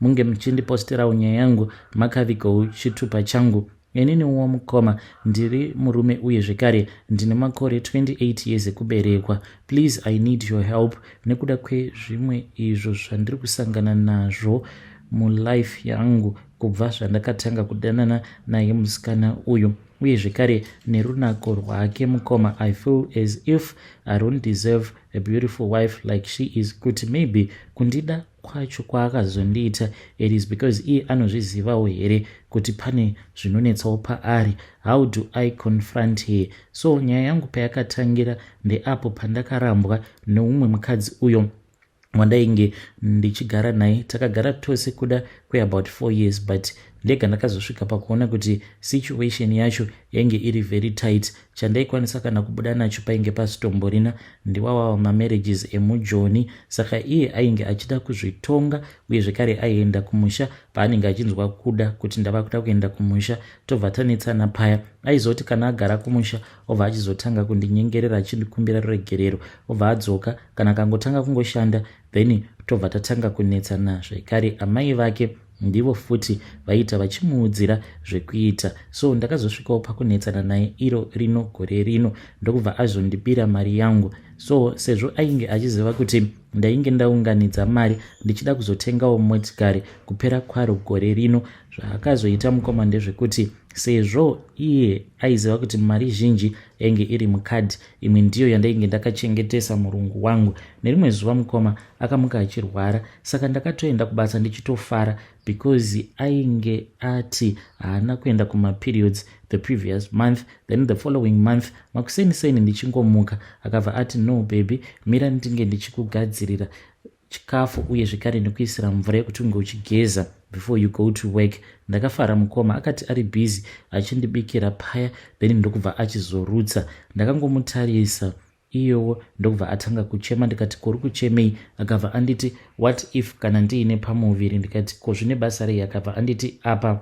munge muchindipostirawo nyaya yangu makavigou chitupa changu ininiwo mukoma ndiri murume uye zvekare ndine makore 28 years ekuberekwa please i need your help nekuda kwezvimwe izvo zvandiri kusangana nazvo mulife yangu kubva zvandakatanga kudanana naye musikana uyu uye zvekare nerunako rwake mukoma i feel as if i don't deserve a beautiful wife like she is kuti maybe kundida kwacho kwaakazondiita it is because iye anozvizivawo here kuti pane zvinonetsawo paari how do i confront her so nyaya yangu payakatangira ndeapo pandakarambwa neumwe mukadzi uyo wandainge ndichigara naye takagara tose kuda kweabout four years but ndega ndakazosvika pakuona kuti situation yacho yainge iri very tight chandaikwanisa kana kubuda nacho painge pasitomborina ndiwawawa mamarriages emujoni saka iye ainge achida kuzvitonga uye zvekare aienda kumusha paanenge achinzwa kuda kuti ndava kuda kuenda kumusha tobva tanetsana paya aizoti kana agara kumusha obva achizotanga kundinyengerera achindikumbira ruregerero obva adzoka kana akangotanga kungoshanda then tobva tatanga kunetsana zvekare amai vake ndivo futi vaiita vachimuudzira zvekuita so ndakazosvikawo pakunetsana naye iro rino gore rino ndokubva azondibira mari yangu so sezvo ainge achiziva kuti ndainge ndaunganidza mari ndichida kuzotengawo motikari kupera kwaro gore rino zvaakazoita mukoma ndezvekuti sezvo iye aiziva kuti mari zhinji yainge iri mukadhi imwe ndiyo yandainge ndakachengetesa murungu wangu nerimwe zuva mukoma akamuka achirwara saka ndakatoenda kubasa ndichitofara because ainge ati haana kuenda kumaperiods the previous month then the following month makuseni seni ndichingomuka akabva ati no baby mira ndinge ndichikugadzirira chikafu uye zvekare nekuisira mvura yekuti unge uchigeza before you go to work ndakafara mukoma akati ari busy achindibikira paya then ndokubva achizorutsa ndakangomutarisa iyowo ndokubva atanga kuchema ndikati kuri kuchemei akabva anditi what if kana ndiine pamuviri ndikati ko zvine basa rei akabva anditi apa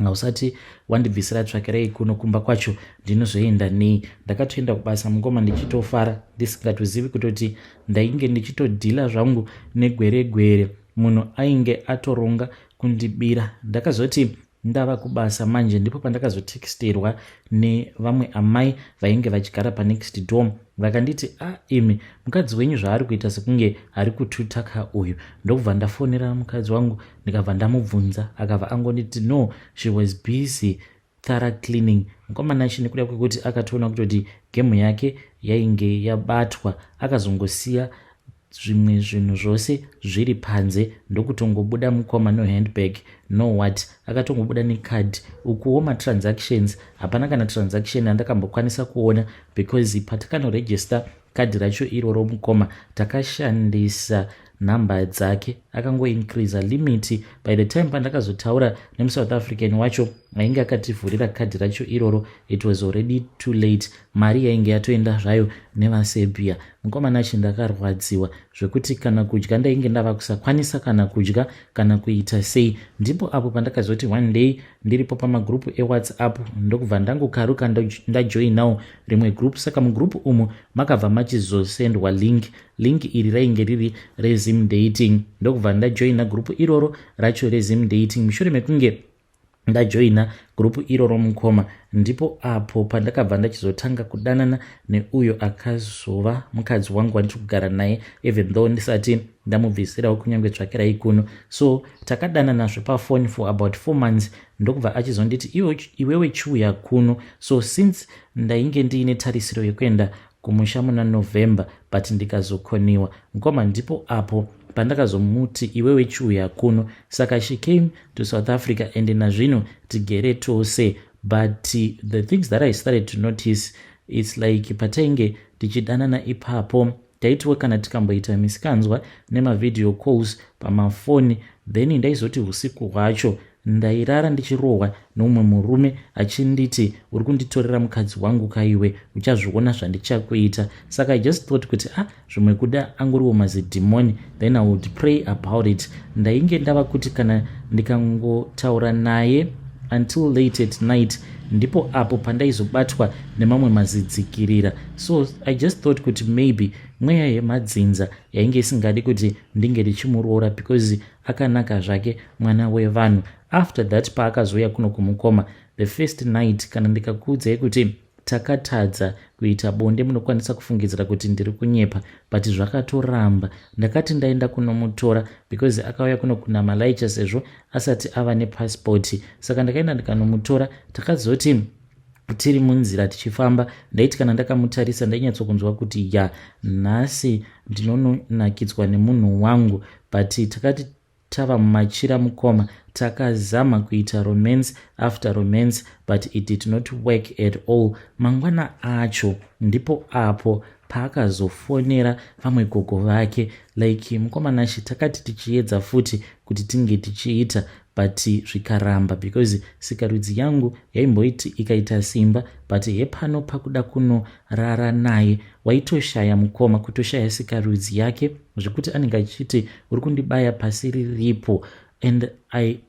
ngausati wandibvisira tsvakirei kuno kumba kwacho ndinozoenda nei ndakatoenda kubasa mukoma ndichitofara ndisingatozivi kutoti ndainge ndichitodhila zvangu negweregwere munhu ainge atoronga kundibira ndakazoti ndava kubasa manje ndipo pandakazotexterwa nevamwe amai vainge vachigara panext dom vakanditi a ah, imi mukadzi wenyu zvaari kuita sekunge ari kututaka uyu ndokubva ndafonera mukadzi wangu ndikabva ndamubvunza akabva angonditi no she was busy thara cleaning mukomana ichi nekuda kwekuti akatoona kutoti gemu yake yainge yabatwa akazongosiya zvimwe zvinhu zvose zviri panze ndokutongobuda mukoma no handbag no what akatongobuda necard ukuwo matransactions hapana kana transaction andakambokwanisa kuona because patakanoregister kadhi racho iroro mukoma takashandisa number dzake akangoincreasa limiti by the time pandakazotaura nemusouth african wacho ainge akativhurira kadhi racho iroro it was already too late mari yainge yatoenda zvayo nevaserbia mukomana chi ndakarwadziwa zvekuti kana kudya ndainge ndava kusakwanisa kana kudya kana kuita sei ndipo apo pandakazoti one day ndiripo pamagrupu ewhatsapp ndokubva ndangokaruka ndajoinawo rimwe group saka mugroup umu makabva machizosendwa link link iri rainge riri rezim dating ndokubva ndajoina group iroro racho rezim dating mushure mekunge ndajoina gurupu iroro mukoma ndipo apo pandakabva ndachizotanga kudanana neuyo akazova mukadzi wangu wandichi kugara naye even though ndisati ndamubvisirawo kunyange tsvakirayi kuno so takadanana zvepafoni for about four months ndokubva achizonditi iwe, iwewe chiuya kuno so since ndainge ndiine tarisiro yekuenda kumusha muna november but ndikazokoniwa mkoma ndipo apo pandakazomuti iwewe chiuya kuno saka she came to south africa and nazvino tigere tose but the things that i started to notice its like patainge tichidanana ipapo taitiwo kana tikamboita misikanzwa nemavideo calls pamafoni then ndaizoti usiku hwacho ndairara ndichirohwa noumwe murume achinditi uri kunditorera mukadzi wangu kaiwe uchazviona zvandichakuita saka i just thought kuti ah zvimwe kuda angoriwo mazidhimoni then i would pray about it ndainge ndava kuti kana ndikangotaura naye until late at night ndipo apo pandaizobatwa nemamwe mazidzikirira so i just thought kuti maybe mweya yemadzinza yainge isingadi kuti ndinge ndichimuroora because akanaka zvake mwana wevanhu after that paakazouya kuno kumukoma the first night kana ndikakuudzai kuti takatadza kuita bonde munokwanisa kufungidzira kuti ndiri kunyepa but zvakatoramba ndakati ndaenda kunomutora because akauya kuno kunamalaicha sezvo asati ava nepasipoti saka ndakaenda ndikanomutora takazoti tiri munzira tichifamba ndaiti kana ndakamutarisa ndainyatsokunzwa kuti ya nhasi ndinononakidzwa nemunhu wangu but takati tava mumachira mukoma takazama kuita romance after romance but it did not work at all mangwana acho ndipo apo paakazofonera vamwe gogo vake like mukoma nashe takati tichiedza futi kuti tinge tichiita but zvikaramba because sikarudzi yangu yaimboiti ikaita simba but hepano pakuda kunorara naye waitoshaya mukoma kutoshaya sikarudzi yake zvekuti anenge achiti uri kundibaya pasi riripo and i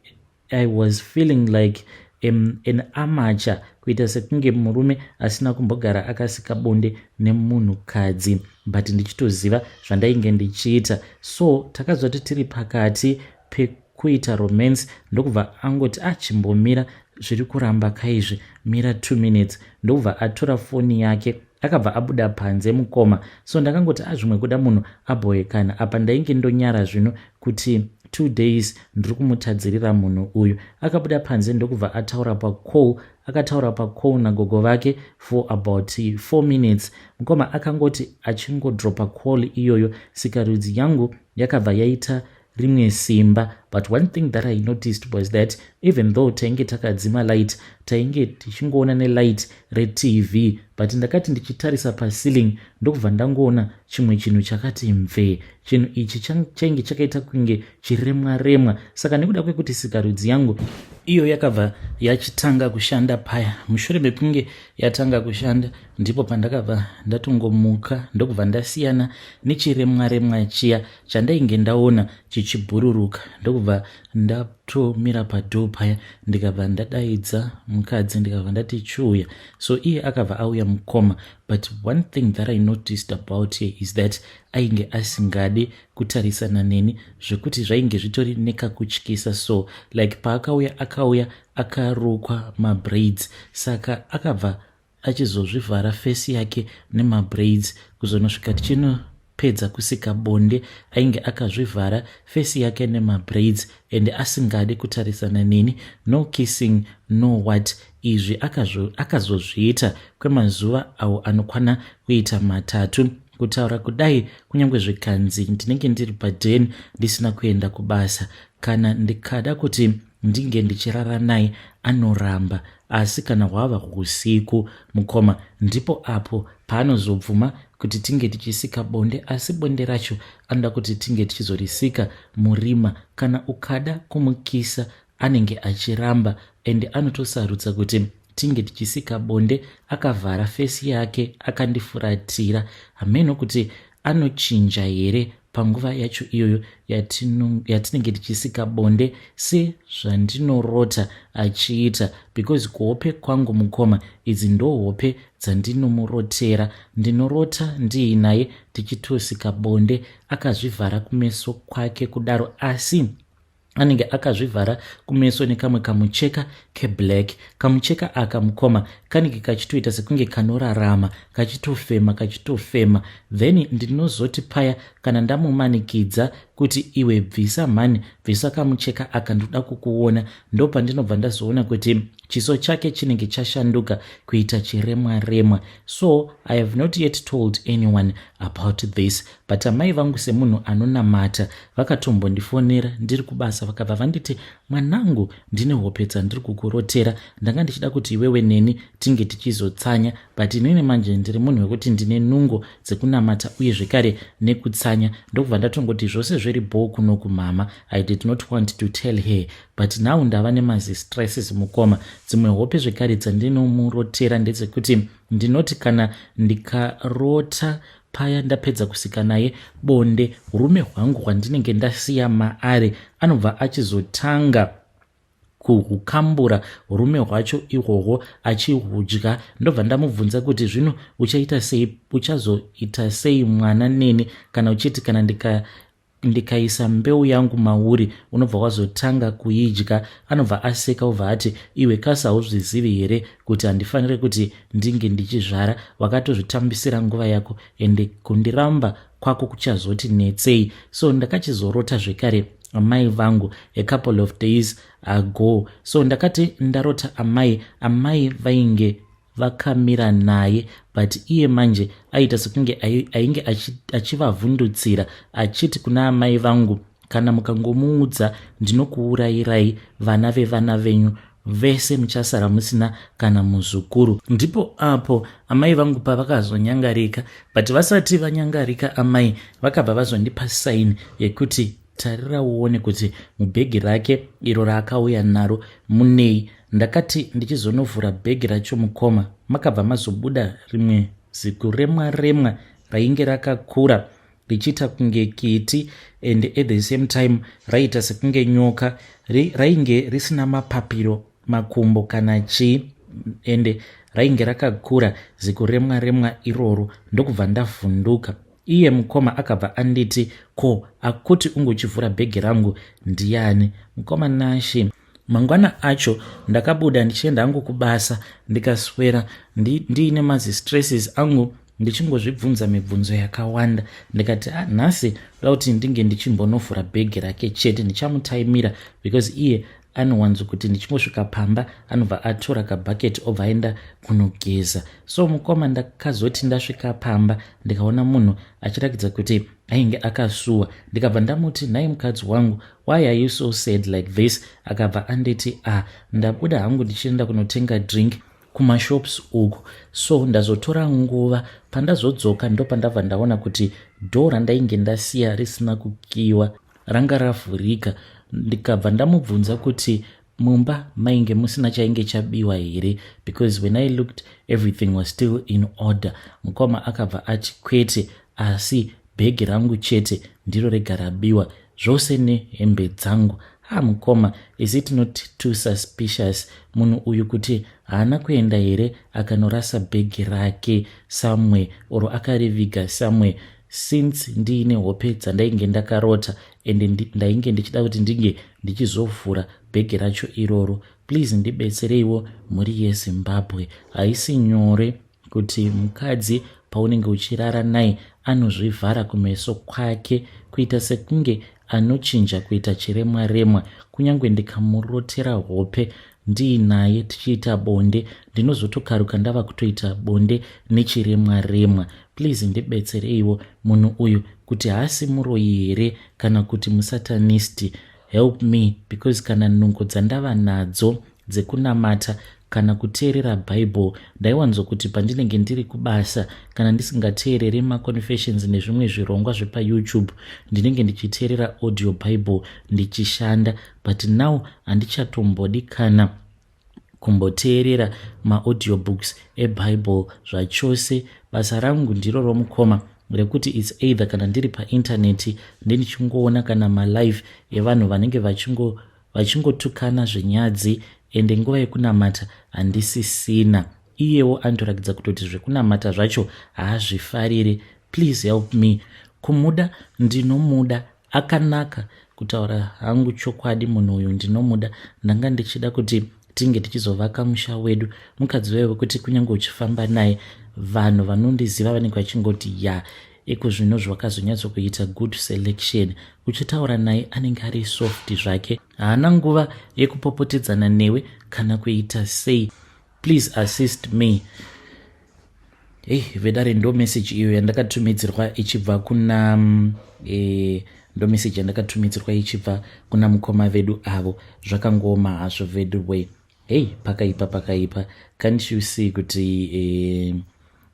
I was feeling like um, an amateur kuita sekunge murume asina kumbogara akasika bonde nemunhukadzi but ndichitoziva zvandainge ndichiita so takazoti tiri pakati pekuita romance ndokubva angoti achimbomira ah, zviri kuramba kaizvi mira two minutes ndokubva atora foni yake akabva abuda panze mukoma so ndakangoti azvimwe ah, kuda munhu abhoekana apa ndainge ndonyara zvino kuti two days ndiri kumutadzirira munhu uyu akabuda panze ndokubva ataura pacall akataura pacall nagogo vake for about four minutes mukoma akangoti achingodropa call iyoyo sikarudzi yangu yakabva yaita rimwe simba but one thing that i noticed was that even though tainge takadzima light tainge tichingoona nelight retv but ndakati ndichitarisa paceiling ndokubva ndangoona chimwe chinhu chakati mvee chinhu ichi chainge chakaita kunge chiremwa remwa saka nekuda kwekuti sikarudzi yangu iyo yakabva yachitanga kushanda paya mushure mekunge yatanga kushanda ndipo pandakabva ndatongomuka ndokubva ndasiyana nechiremwa remwa chiya chandainge ndaona chichibhururuka ndokubva ndatomira padoo paya ndikabva ndadaidza mukadzi ndikabva ndati chiuya so iye akabva auya mukoma but one thing that i noticed about her is that ainge asingade kutarisana neni zvekuti zvainge zvitori nekakutyisa so like paakauya akauya akarukwa mabraids saka akabva achizozvivhara face yake nemabraids kuzonosvika tichinopedza kusika bonde ainge akazvivhara face yake nemabraids and asingade kutarisana neni no kissing no what izvi akazozviita kwemazuva awo anokwana kuita matatu kutaura kudai kunyange zvikanzi ndinenge ndiri paden ndisina kuenda kubasa kana ndikada kuti ndinge ndichirara naye anoramba Asi kana hwava husiku, mukoma ndipo apo paanozobvuma kuti tinge tichisika bonde asi bonde racho anoda kuti tinge tichizorisika murima. Kana ukada kumukisa anenge achiramba ende anotosarudza kuti tinge tichisika bonde akavhara face yake akandifuratira hameno kuti anochinja here panguva yacho iyoyo yatinenge tichisika bonde sezvandinorota achiita because kuhope kwangu mukoma idzi ndohope dzaNdinomurotera ndinorota ndiinaye tichitosika bonde akazvivhara kumeso kwake kudaro asi anenge akazvivhara kumeso nekamwe kamucheka keblack kamucheka aka mukoma kanenge kachitoita sekunge kanorarama kachitofema kachitofema then ndinozoti paya kana ndamumanikidza kuti iwe bvisa mhani bvisa kamucheka aka ndoda kukuona ndopandinobva ndazoona kuti chiso chake chinenge chashanduka kuita chiremwa remwa so i have not yet told anyone about this but amai vangu semunhu anonamata vakatombondifonera ndiri kubasa vakabva vanditi mwanangu ndine hope dzandiri kukurotera ndanga ndichida kuti iwewe neni tinge tichizotsanya but inini manje ndiri munhu wekuti ndine nungo dzekunamata uye zvekare nekutsanya ndokubva ndatongoti zvose zviri bhoo kuno kumama i did not want to tell her but now ndava nemazistresses mukoma dzimwe hope zvekare dzandinomurotera ndedzekuti ndinoti kana ndikarota Paya ndapedza kusika naye bonde, urume hwangu hwandinenge ndasiya maari anobva achizotanga kuhukambura urume hwacho ihwohwo achihudya ndobva ndamubvunza kuti zvino uchaita sei uchazoita sei mwana neni kana uchiti kana ndika ndikaisa mbeu yangu mauri unobva wazotanga kuidya anobva aseka obva ati iwe kasi hauzvizivi here kuti handifanire kuti ndinge ndichizvara wakatozvitambisira nguva yako ende kundiramba kwako kuchazoti netsei so ndakachizorota zvekare amai vangu a couple of days ago so ndakati ndarota amai amai vainge vakamira naye but iye manje aiita sekunge ainge achivavhundutsira achiti kuna amai vangu kana mukangomuudza ndinokuurayirai vana vevana venyu vese muchasara musina kana muzukuru ndipo apo amai vangu pavakazonyangarika but vasati vanyangarika amai vakabva vazondipa saini yekuti Tarira uone kuti mubhegi rake iro raakauya naro munei. Ndakati ndichizonovhura bhegi racho mukoma makabva mazobuda rimwe zikuremwa remwa rainge rakakura richiita kunge kiti and at the same time raiita sekunge nyoka rainge risina mapapiro makumbo kana chii ende rainge rakakura zikuremwa remwa iroro ndokubva ndavhunduka Iye mukoma akabva anditi, ko akuti unge uchivhura bhegi rangu ndiani? Mukoma Nashi. Mangwana acho ndakabuda ndichienda hangu kubasa ndikaswera ndiine ndi mazistresses angu ndichingozvibvunza mibvunzo yakawanda ndikati ah, nhasi ndoda kuti ndinge ndichinbonovhura bhegi rake chete ndichamutaimira because iye anowanzo kuti ndichingosvika pamba anobva atora kabhaketi obva aenda kunogeza so mukoma ndakazoti ndasvika pamba ndikaona munhu achirakidza kuti ainge akasuwa ndikabva ndamuti nhai mukadzi wangu why are you so sad like this akabva anditi ah ndabuda hangu ndichienda kunotenga drink kumashops uku so ndazotora nguva pandazodzoka ndopandabva ndaona kuti dho randainge ndasiya risina kukiwa ranga ravhurika ndikabva ndamubvunza kuti mumba mainge musina chainge chabiwa here because when i looked everything was still in order mukoma akabva ati kwete asi bhegi rangu chete ndiro rega rabiwa zvose nehembe dzangu ha mukoma is it not too suspicious munhu uyu kuti haana kuenda here akanorasa bhegi rake somewhere or akariviga somewhere since ndiine hope dzandainge ndakarota and ndainge ndichida kuti ndinge ndichizovhura bhegi racho iroro please ndibetsereiwo mhuri yezimbabwe haisi nyore kuti mukadzi paunenge uchirara naye anozvivhara kumeso kwake kuita sekunge anochinja kuita chiremwa remwa kunyange ndikamurotera hope ndiinaye tichiita bonde ndinozotokaruka ndava kutoita bonde nechiremwa remwa please ndibetsereiwo munhu uyu kuti haasi muroyi here kana kuti musatanisti help me because kana nungo dzandava nadzo dzekunamata kana kuteerera bible ndaiwanzo kuti pandinenge ndiri kubasa kana ndisingateereri maconfessions nezvimwe zvirongwa zvepayoutube ndinenge ndichiteerera audio bible ndichishanda but now handichatombodi kana kumboteerera maaudiobook's ebible zvachose basa rangu ndiro romukoma rekuti its either kana ndiri paintaneti ndindichingoona kana malive evanhu vanenge vachingotukana vachingo zvenyadzi ende nguva yekunamata handisisina iyewo anotoratidza kutoti zvekunamata zvacho haazvifarire please help me kumuda ndinomuda akanaka kutaura hangu chokwadi munhu uyu ndinomuda ndanga ndichida kuti tinge tichizovaka musha wedu mukadzi waive wekuti kunyange uchifamba naye vanhu vanondiziva vanenge vachingoti ya iko zvino zvakazonyatsokuita good selection uchitaura naye anenge ari soft zvake haana nguva yekupopotedzana newe kana kuita sei Please assist me. Hey, vedare ndo message iyo yandakatumidzirwa ichibva kuna mm, eh, ndo message yandakatumidzirwa ichibva kuna mukoma vedu avo zvakangooma hazvo vedu way hey pakaipa pakaipa can't you see kuti eh,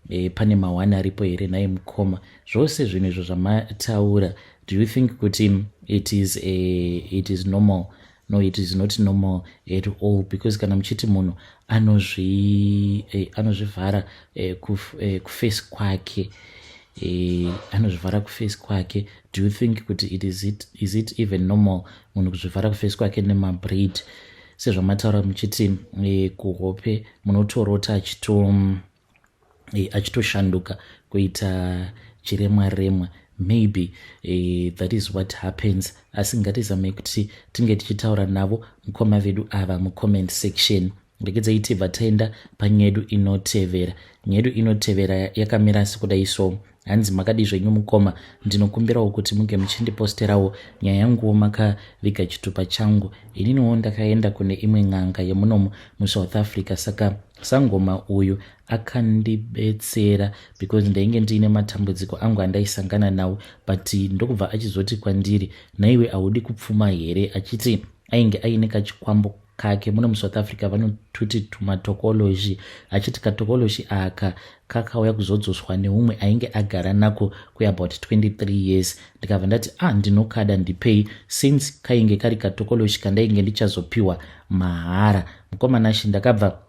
eh, pane mawani aripo here naye mukoma zvose zvinhu izvo zvamataura do you think kuti it is, eh, it is normal no it is not normal at all because kana muchiti munhu anozvi eh, anozvivhara eh, kuf, eh, kuface kwake eh, anozvivhara kuface kwake do you think kuti it is it, is it even normal munhu kuzvivhara kuface kwake nemabraid sezvamataura muchiti eh, kuhope munotorota achitom e, achitoshanduka kuita chiremwa remwa maybe e, that is what happens asi ngatizamei kuti tinge tichitaura navo mukoma vedu ava mucomment section regedzai tibva taenda panyedu inotevera nyedu inotevera yakamira sekuda iso hanzi makadii zvenyu mukoma ndinokumbirawo kuti muge muchindiposterawo nyaya yanguwo makaviga chitupa changu ininiwo ndakaenda kune imwe n'anga yemunomu musouth africa saka sangoma uyu akandibetsera because ndainge ndiine matambudziko angu andaisangana nawo but ndokubva achizoti kwandiri naiwe haudi kupfuma here achiti ainge aine kachikwambo kake muno musouth africa vanotuti tumatokoloshi achiti katokoloshi aka kakauya kuzodzoswa neumwe ainge agara nako kweabout 23 years ndikabva ndati ah ndinokada ndipei since kainge kari katokoloshi kandainge ndichazopiwa mahara mukomana shi ndakabva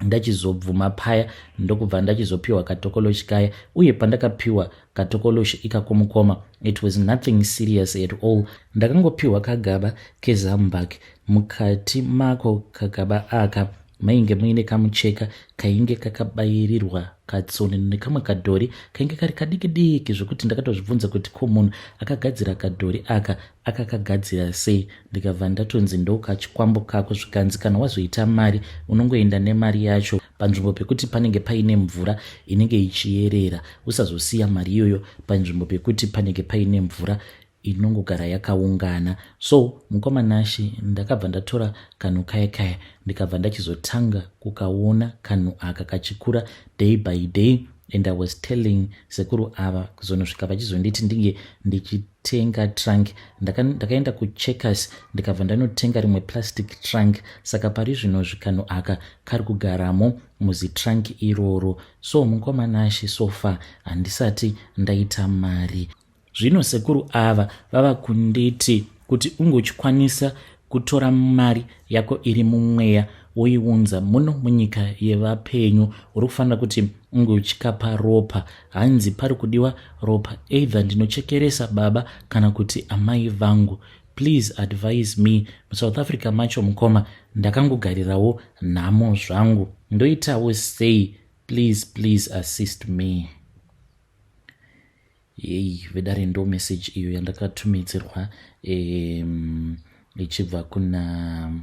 ndachizobvuma paya ndokubva ndachizopiwa katokoloshi kaya uye pandakapiwa katokoloshi ikakomukoma it was nothing serious at all ndakangopiwa kagaba kezambak mukati mako kagaba aka mainge muine kamucheka kainge kakabairirwa katsoni nekamwe kadhori kainge kari kadiki diki zvekuti ndakatozvibvunza kuti ko munhu akagadzira kadhori aka akakagadzira sei ndikabva ndatonzi ndokachikwambo kako zvikanzi kana wazoita mari unongoenda nemari yacho panzvimbo pekuti panenge paine mvura inenge ichiyerera usazosiya mari iyoyo panzvimbo pekuti panenge paine mvura inongogara yakaungana so mukoma nashi ndakabva ndatora kanhu kaya kaya ndikabva ndachizotanga kukaona kanhu aka kachikura day by day and i was telling sekuru ava kuzonosvika vachizonditi ndinge ndichi tenga trunk ndakaenda ndaka kucheckers ndikabva ndanotenga rimwe plastic trunk saka pari zvino zvikanhu aka kari kugaramo muzitrunk iroro so mukoma nashe so far handisati ndaita mari zvino sekuru ava vava kunditi kuti ungochikwanisa kutora mari yako iri mumweya woiunza muno munyika yevapenyu uri kufanira kuti unge uchikapa ropa hanzi pari kudiwa ropa either ndinochekeresa baba kana kuti amai vangu please advise me musouth africa macho mukoma ndakangogarirawo nhamo zvangu ndoitawo sei please please assist me Yei vedare ndo message iyo yandakatumidzirwa um, ichibva kuna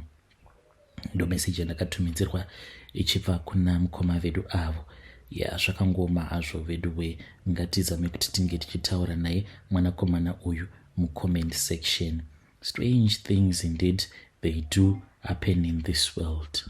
ndo message yandakatumidzirwa ichibva kuna mukoma vedu avo ya zvakangoma hazvo vedu we ngatizame kuti tinge tichitaura naye mwanakomana uyu mucomment section strange things indeed they do happen in this world